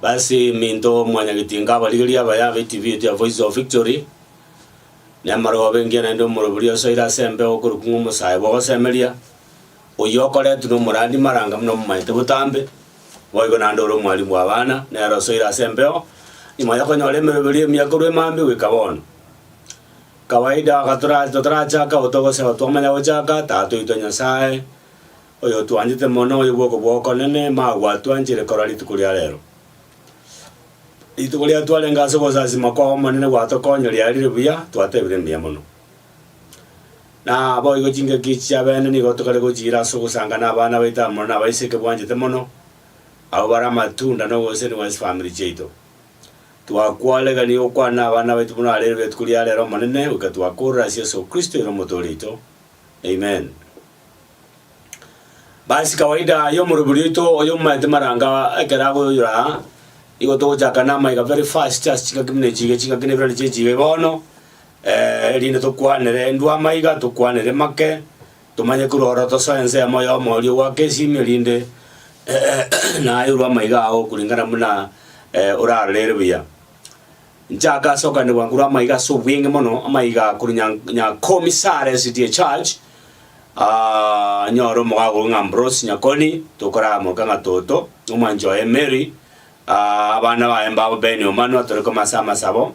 Basi minto mwanyagetinga abarigerie abaye abe ekibieti ya Voice of Victory, na amarogo abe engiya naende omorobori osoire ase embeo okorokwa ng'a omosae bw'ogosemeria, oyio okoretwe nomorandi maranga buna omomanyete botambe, boigo naende ore omwarimu bw'abana, nere osoire ase embeo, nyuma yokonyora emeroberi emiya korwa emambia goika bono. Kawaida gatorache totarachake obotuko gose aho twamanya gochaka, Tata oito Nyasae, oyotwanchete mono, oyo bw'oko bw'okonene, magwatwanchire korwa rituko ria rero. Rituko riria twarenge ase ogosasima kwao Omonene gwatokonya riarire buya, twatebire mbuya mono. Na boigo chingaki echi chiabene nigo tokare gochiira ase ogosanga nabana baito amo nabaise ekebwanchete mono, abwo bare amatunda na oboseni bw'esifamiri chiaito. Twakwaregania gokwana abana baito buna arere rituko ria rero Omonene, goika twakorora ase Yeso Kristo ere Omotooria oito. Amen. Basi kawaida y'omorobiri oito oyo omomaete maranga ekero agoyoyora aa, igo togochaka namaiga very fast ase chingaki buna echi iga chingaki na ebirane chie echi iga bono, eh, erinde tokwanere ndwa amaiga, tokwanere make, Tomanye korwa oro tosoe ensemo y'omo oria ogoaka esimi, erinde naeirwe amaiga ao okoringana buna oraroreire buya. Nchake ase okoanderwa korwa amaiga ase obweng'e mono, amaiga korwa Nya- Nyakomisare City ya Church, ah, nyore omogago oria ng'a Ambrose Nyakoni, tokoramoka ng'a Toto, omwanchi oye Mary, ah, abana baye mbabo Ben Omanwa, tore koma ase amasabo.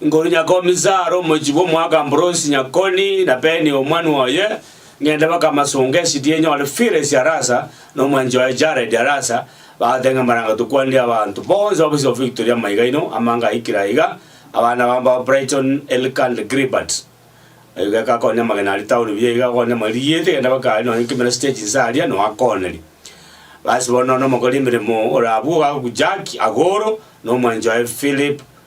Nguru nyakomisaare omochie bw'omwaka Ambrosi Nyakoni na Beni omwanwa oye, ng'ende baka amasongo esidie nyore Firesi Arasa na omwanchi oye Jaredi Arasa, bagote ng'a marang'e tokwanire abanto bonsi babosire Victory amaiga aino amange aikire aiga, abana babo mbao Brighton, Elka and Gilbert. Erio gekakonya amagena aria tao ribuya iga okonya amagena rigiete genda baka aria nonye kimera stage inse aria no akoneri. Basi bono nonya nomokori emeremo ore abwo ogagokwa Jack agoro na omwanchi oye Philip,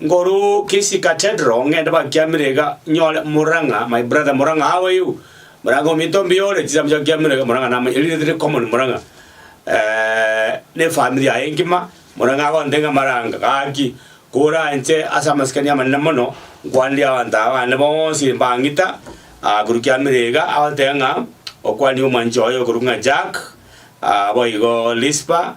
Ngoru Kisii Cathedral ng'ende bakiamire iga nyore Murang'a my brother Murang'a how are you Murang'a ominto ombuya ore chisambu chia kiamire iga Murang'a namanya eri riri common Murang'a eh, ne family yaye engima Murang'a agonte ng'a maranga gaki kora inche ase amasikani amanene mono nkwanire abanto aba bane bonsi mbang'ita ah, korwa kiamire iga agoteba ng'a okwanire omwanchi oye okorwa ng'a Jack ah, boigo Lispa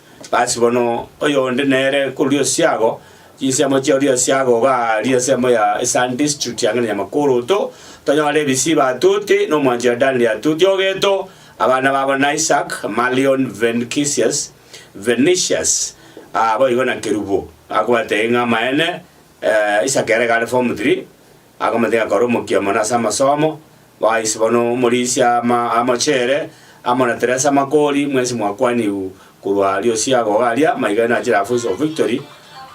Gasi bono oyonde nere korwa Osiago, chinsiamo chia Oriasiago iga aria ensemo ya Eastern District ang'e na Nyamakoroto, tonyore ebisiba atuti, na omwancho ya Dani atuti ogeto, abana babo n'Isaac, Malion, Venicius, Venicius, ah, boigo na Kerubo, akobwate ng'a amaene, eh, Isaac ere iga are form three, Akamotega kore omokia mono ase amasomo, baise bono omorisia amochere, amo na Teresa Makori, mwensi mwakwanigwe korwa aria osiaga iga aria, maiga nachire aa Voice of Victory,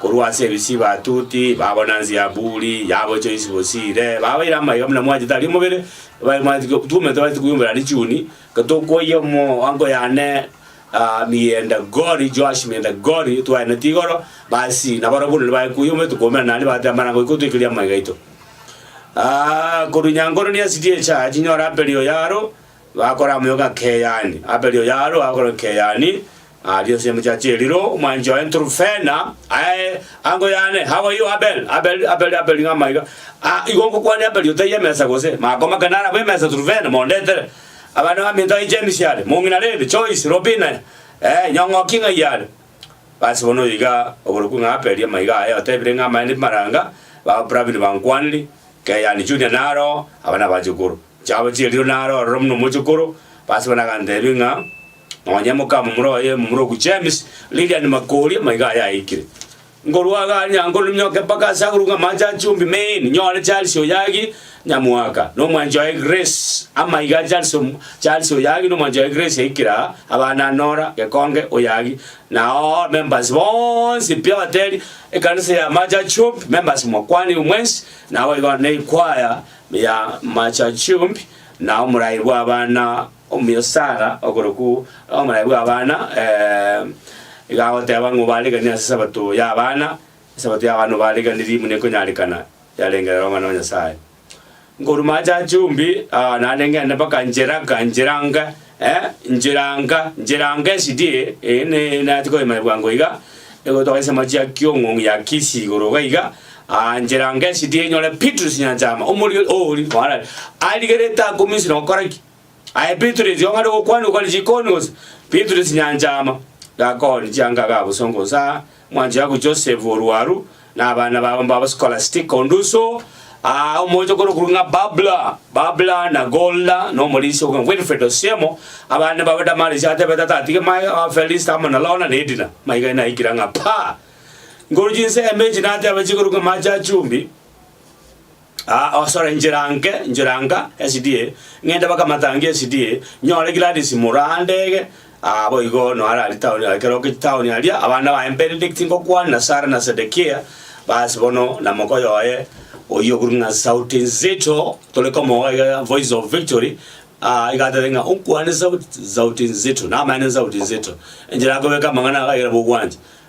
korwa ase ebisi batuti, babonansi ya buri, yabo choisi bosire, babaire amaiga buna mwachete aria omobere, babaire mwachete twomanyete batabwate koyiombera richiuni, tokoyia omo ango yane, Amienda Gori, Joash mienda Gori, twaeneti igoro, Baasii, na barabwo buna nibaye kuya omoeto koumera naende baate amarango goika otwekeria amaiga aito. Ah, korwa nyankoro niasirie echaha chinyore Abeli o Yaro, bakora amoyo ng'a Keyani. Abeli o Yaro agakora Keyani, aria ase emechacha eriro, omwanchi oye Nturufena, aye ango yane, how are you Abel? Abel, Abel, Abel ng'a amaiga. Ah, igo ngokwania Abeli otaiyo emesa gose? Makoma kare narabwo emesa Turufena, mondetere. Abana baminto yaye James yare mong'ina Levi, Joyce, Robina, ee, nyong'oki ng'ai yare. Basi bono oyo iga oborokigwe ng'a aperie amaiga aye otebire ng'a amaene bimaranga, baba Pravin bankwanire, Keyan Junior naro oo, aba nabachukuru. Chiabo chieriro naro ororo buna omochukuru, basi bono agantebia ng'a, Nonye mokamomura oye momura oku James, Lilian Makori, amaiga aye aikire. Nkorwa agare nyango ninyoke mpaka ase agoro ng'amache a chumbi main, nyore Charles Oyagi, nyamwaka, na omwanchi oye Grace. Amaiga a Charles Om- Charles Oyagi na omwanchi oye Grace yaikire aa, abana Nora, Gekonge, Oyagi, na oo members bonsi pi abateri, ekanisa ya amache a chumbi, members mokwanigwe mwensi, naboigo ne ekwaya ya amache a chumbi, na omorai bwa abana Omuya Sara, okorokwu omonaye bw'abana, iga agoteba ng'o bareganie ase Sabato y'abana. Esabato y'abana obareganirie buna ekonyarekana yarengerera Omwana o Nyasae. Nkorwa maache aa chumbi, naende ngende mpaka ncheraga, nchiranga, eh, nchiranga, nchiranga esidie, eh, ne nache koyemanya bwango iga, egotoka ensemo chia kiong'ong'i ya Kisii igoro iga iga, nchiranga esidie nyore Bitrus Nyanchama, omori oria, kwara, arigerete akomisire gokora ki? Aye Petero erio ong'are gokwana ogore chikoni gose? Petero chinyancha ama, gakooria chianga ga bosongo gose aa, mwancho yago Joseph o rwaru, na abana babo mbabo Skolastika o ndusu, aa, omoche okoro okorwa ng'a Babla, Babla, na Golda, na omorinsi okoro ng'a Wilfred o Siemo, abande mbabo Damaris atebe tata atige maye, aa, Felista amo na Lona, na Edina. Maiga naikire ng'a paa! Nkoru chinsemo echi nateba chikoro ng'a amache a chumbi. Aa osore njira nke, njira nka, esidie, ng'ende baka matangi esidie, nyore Gladys mura andege, aa boigo noare aria town aa ekero oke town aria, abana baye mbenedict ngokwana na Sarah na Sedekia, bas bono na mokoyo oye oyio okorwa ng'a sauti nzito, tore komoa iga iga voice of victory, aa iga atebete ng'a onkwane sauti sauti nzito, namaene nsauti nzito, enchera akobeka amang'ana ago aye nabo ogwancha,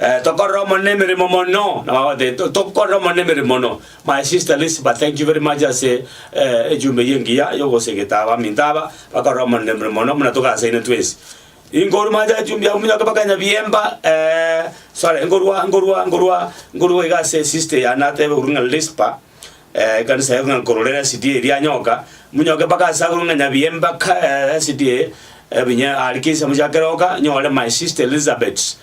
Eh, tokorera Omonene emeremo mono. Nababate, "To- tokorera Omonene emeremo mono. My sister Lisba, thank you very much ase eh, ejumbe eye engiya yogosegeta abaminto aba bakorera Omonene emeremo mono buna togasaine twensi. Inkorwa mache echumbi abwo minyoke mpaka Nyabiemba, eh, sorry, nkorwa nkorwa nkorwa nkorwa iga ase sister yane atebe korwa ng'a Lisba, ekanisa eye ng'a nkorore resiti eye rianyoka, monyoke mpaka ase agoro ng'a nyabiya embaka eh, resiti eye ebinye are kisa mochake roka nyore my sister Elizabeth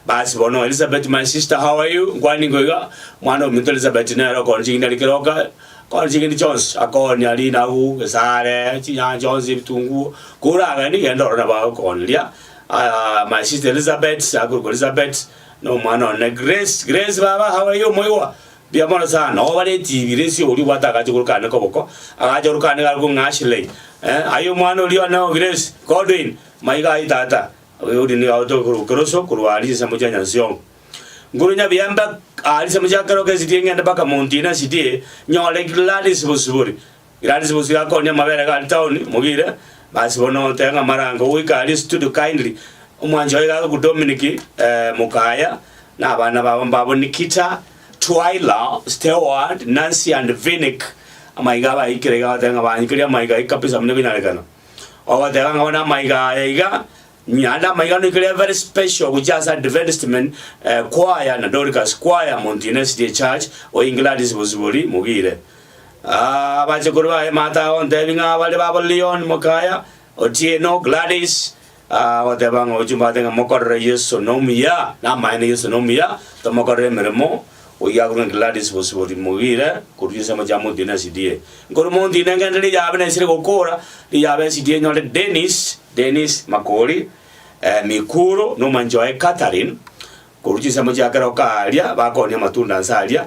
basi bono Elizabeth my sister how are you nkwane nigo iga mwana ominto Elizabeth nere okore chigini are keroka kore chigeni chionsi akonye aria inagu esare chinyanya chionsi ebitunguo kora ageni genda orore nabo agokoneria ah, my sister Elizabeth akorokwa Elizabeth na omwana one Grace Grace baba how are you moigwa Riamoro sana, oba retibi resi oria obwate agacha korokana koboko, agacha korokana gare kong'a Ashley, eh, aye omwana oria one o Grace, Godwin, maiga aye tata, oyo oria nigo agotoka korwa keroso korwa aria ensemo chia Nyansiongo. Nguru Nyabiembe aria ensemo chia kerogo esidie ng'ende mpaka Mount Ina esidie nyore Gladys Bosibori, Gladys bosio akonia amabere gari town, mogire, basi bono otebe ng'a marango goika aria studio kindly. Omwancho oye gakoku Dominic Mukaya na abana babo mbabo Nikita, Twyla, Steward, Nancy and Vinik. Amaiga abaikire iga batebe ng'a baanchukire amaiga aye kabisa buna ekonyarekana. Ogoteba ng'a bono amaiga aya iga, naende amaiga noikire a very special gochia ase Adventist men choir na Dorcas choir, Mountain SDA church, oye Gladys Bosibori, mogire. Abachukuru baye Martha agontebia ng'a bare babo Leon, mokaya, Otieno, Gladys, agoteba ng'a ochia ombwate ng'a mokorere Yeso nomuya, namaene Yeso nomuya, tomokorere emeremo, oyio akorwe Gladys bosibori mogire korwa ase amache amontine na SDA. Nkorwa montine ngende riyabe nesire gokora, riyabe SDA nyore Dennis, Dennis, Makori, Mikuro, nomwanchi oye Catherine, korwa chinse amo chiakera okaaria, bakooni amatunda nse aria,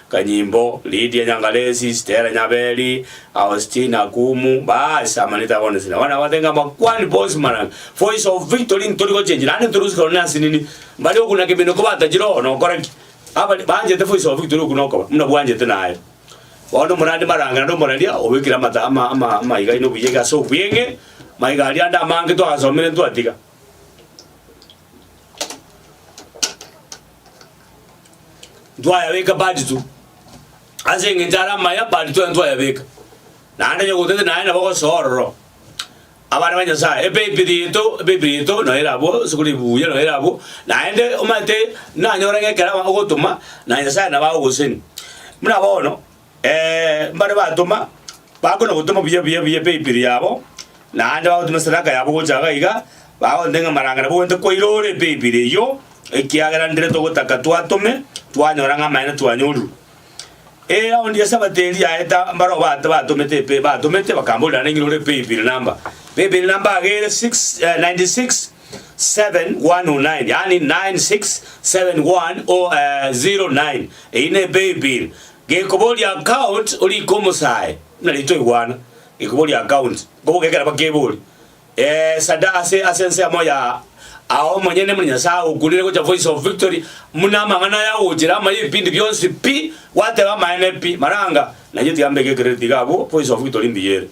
Kanyimbo, Lydia Nyangalesi, Stella Nyaberi, Austine Akumu, baasi amanite abonsi nabo nabate ng'a Makuani bonsi mana Voice of Victory ntori gochenchi naende ntori gosikwa nonye ase nini mbare okuna kemino kobatachire oo nokora ki? Abare banchete Voice of Victory okuna okoba muna bwanchete naye. Bono omorani maranga naende omoraria obekire amata ama ama amaiga aino buya iga ase obweng'e maiga aria ande amange twagasomire ntwatiga. Ntwayabeka bad tu. Ase engencho are amaya bad tu ntwayabeka. Naende onye gotete naye nabo ogosoa ororo. Abana ba Nyasaye ebaibiri yaito ebaibiri yaito no ere abwo ase kore ebuya no ere abwo naende omanyete nanyore ng'ekero ogotoma na Nyasaye nabo agogoseni. Buna bono. Ee, mbare batoma, bakona gotoma buya buya buya paybill yabo, naende bagotuma esadaka yabo gocha iga na iga, bagontebia ng'a maranga nabo gwenerete koirore paybill eyio, ekiagera ndire togotaka twatome, twanyora ng'a amaene twanyorire. Ee, aonde ase abatebia yaeta, mbarabwo ba- batomete epe- batomete bakamboria naende ng'irore paybill number. Paybill number age ere six, eh, ninety six. 7109 yaani 9671009 eyio ne paybill gekoboria account orike omosae buna ritoigwana gekoboria account nkoboka ekero bakebori eeh sada ase ase ensemo ya ao omonyene buna nyasae agokunire gocha voice of victory buna amang'ana aya agochire amaye ebipindi bionsi pi gwateba amaene pi maranga nainche tiga mbeke credit iga abwo voice of victory mbuya ere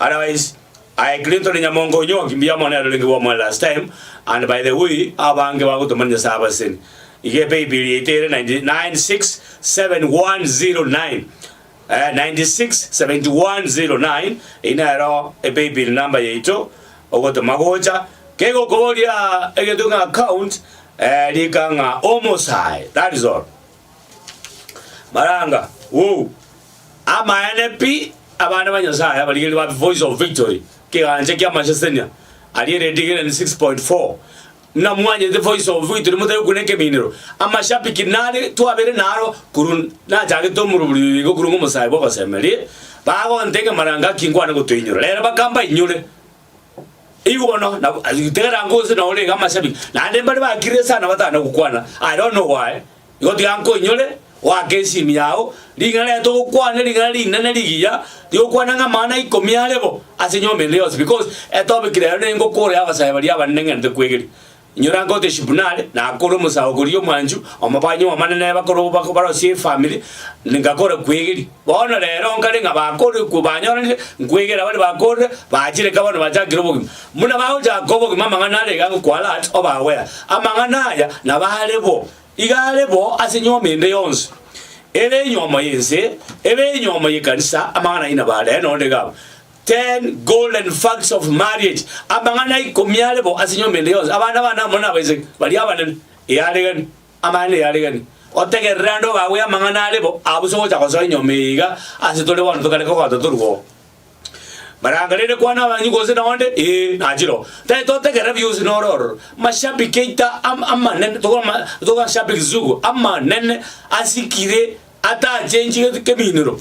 otherwise. Aye Kristo ne Nyamongo onyoki mbuya mono ere orenge bwa more last time and by the way abange bagotoma ne Nyasaye abaseseni iga epaybill yaito ere 9671009 eyio nero epaybill number yaito ogotoma gocha kegokoboria egento ng'a account rika ng'a omosae that is all. Maranga, Woo! Amaene pi, abana ba Nyasae abarigereria ba The Voice of Victory, ekegancha ki'amasesenia aria eredigereni 6.4. Ng'a mwanyete The Voice of Victory motari gokuna ekeminero, amashabiki nare twabere naro korwa nachagete omorobori oyo igo korwa ng'omosae bw'ogosemeria, bagonte ng'a Maranga ki nkwane gotoinyora. Rero bakamba inyore. Igo bono na tegera ngose na orenge amachabi, naende mbare bakirire sana batana gokwana, are one owaye, igo tiga nkoinyore, oake ensiimi yao, ring'ana rete ogokwane ring'ana rinene rigiya, rigokwana ng'a amang'ana ikomi are bo ase enyomba ende yonsi, because etopiki rero nengokoro y'abasae baria abanene ng'entete kwegeria. Inyora ngote Shibnari, nakore omosaho goria omwanchu, omobani omonene bakoro bako barosie efamiri, ngakore kwegeria. Bono rero nkare ng'a bakore kwo banyoranire, nkwegeria baria bakorire, bachire eka bono bachakire obogima. Buna bagochaka obogima amang'ana are iga nkwalat obagwera. Amang'ana aya nabo are bo, iga are bo ase nyuomi ende yonsi, ere enyomo y'ense, ere enyomo y'ekanisa, amang'ana ayio nabo are, nonde iga aba. Ten golden facts of marriage, Amang'ana ikomi are bo ase nyomba ende yonsi. Abana bane amo nabaiseke baria abanene, eyaregani, amaene eyaregani. Otegerere ande obague amang'ana are bo abwo se ogocha gosoa enyomba eye iga ase tore bono tokareka kogata torue oo. Maranga rende kwana abanywi gose na onde, ee, nachire oo. Tari totegerera bionsi nore ororo. Mashabiki aito am amanene togo ama togo ashabiki sugu amanene asikire atachenchigeti keminero.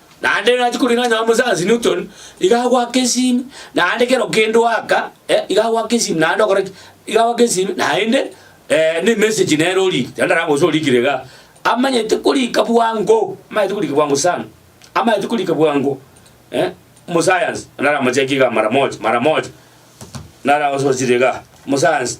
Naende nachi koreng'ana na omosaansi Newton, iga agoaka esimi, naende kera okende oaka, eh, iga agoaka esimi naende okora ki? Iga agoaka esimi naende eh, ne message nere oriiki, tari narabe gose oriikire igaa, amanyete koriika bwango, amanyete koriika bwango sana, amanyete koriika bwango eh, omosayansi naramocheki igaa mara moja, mara moja, naragososia igaa, omosayansi.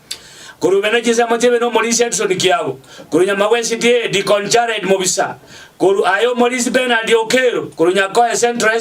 Korwa obe ne chinsemo chi'ebe n'omorisia egisoni kiabo, korwa nyuma gw'esiti eye Deacon Jared Mobisa, korwa aye omorisi Bernard Okello, korwa Nyakoe Central,